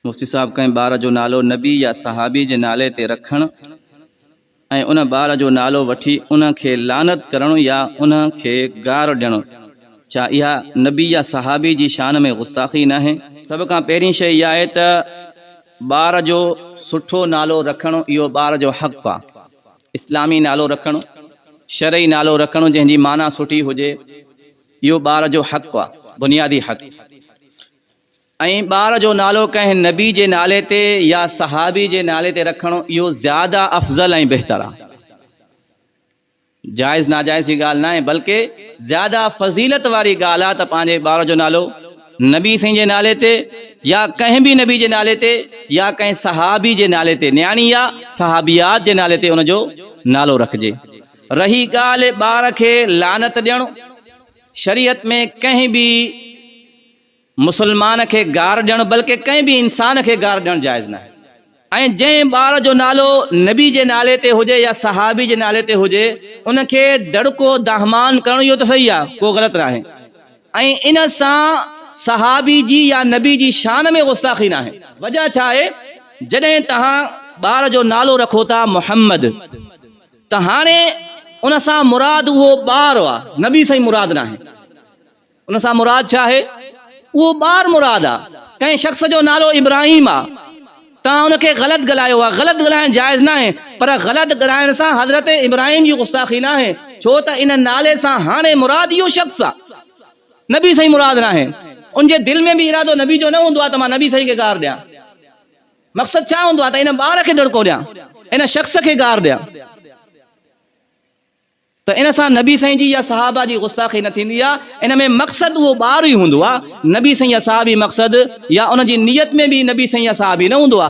مفتي صاحب ڪنهن ٻار جو نالو نبي يا صحابي جي نالي تي رکڻ ۽ ان ٻار جو نالو وٺي ان کي لعنت ڪرڻ يا ان کي گار ڏيڻ ڇا اها نبي يا صحابي جي شان ۾ غستاخي ناهي؟ سڀ کان پهرين شيء اها آهي ته ٻار جو سٺو نالو رکڻ اهو ٻار جو حق آهي. اسلامي نالو رکڻ، شرعي نالو رکڻ جنهن جي معنيٰ سٺي هجي اهو ٻار جو حق آهي، بنيادي حق. ۽ ٻار جو نالو ڪنهن نبي جي نالي تي يا صحابي جي نالي تي رکڻ اهو زياده افضل ۽ بهتر آهي. جائز ناجائز جي ڳالهه ناهي بلڪه زياده فضيلت واري ڳالهه آهي ته پنهنجي ٻار جو نالو نبي سائين جي نالي تي يا ڪنهن به نبي جي نالي تي يا ڪنهن صحابي جي نالي تي نياڻي يا صحابيات جي نالي تي ان جو نالو رکجي. رهي ڳالهه ٻار کي لعنت ڏيڻ شريعت ۾ ڪنهن به مسلمان کي گار ڏيڻ بلڪه ڪنهن به انسان کي گار ڏيڻ جائز ناهي ۽ جنهن ٻار جو نالو نبي جي نالي تي هجي يا صحابي جي نالي تي هجي ان کي دڙڪو دانهمان ڪرڻ اهو ته صحيح آهي ڪو غلط ناهي ۽ ان سان صحابي جي يا نبي جي شان ۾ غستاخي ناهي. وجهه ڇا آهي جڏهن توهان ٻار جو نالو رکو ٿا محمد ته هاڻي ان سان مراد اهو ٻار آهي نبي سائين مراد ناهي. ان سان مراد ڇا آهي؟ اهو ٻار مراد آ. ڪنهن شخص جو نالو ابراهيم آ. توهان ان کي غلط ڳالهايو آ. غلط ڳالهائڻ جائز ناهي. پر غلط ڳالهائڻ سان حضرت ابراهيم جي غستاخي ناهي. ڇو ته ان نالي سان هاڻي مراد اهو شخص آ. نبي سائين مراد ناهي. ان جي دل ۾ به ارادو نبي جو نه هوندو آ ته مان نبي سائين کي گار ڏيان. مقصد ڇا هوندو آ ته ان ٻار کي دڙڪو ڏيان. ان شخص کي گار ڏيان. ته ان سان نبي سائين جي يا صحابه جي غستاخي نه ٿيندي آ ان ۾ مقصد اهو ٻار ئي هوندو آ نبي سائين يا صحابي مقصد يا ان جي نيت ۾ به نبي سائين يا صحابي نه هوندو آ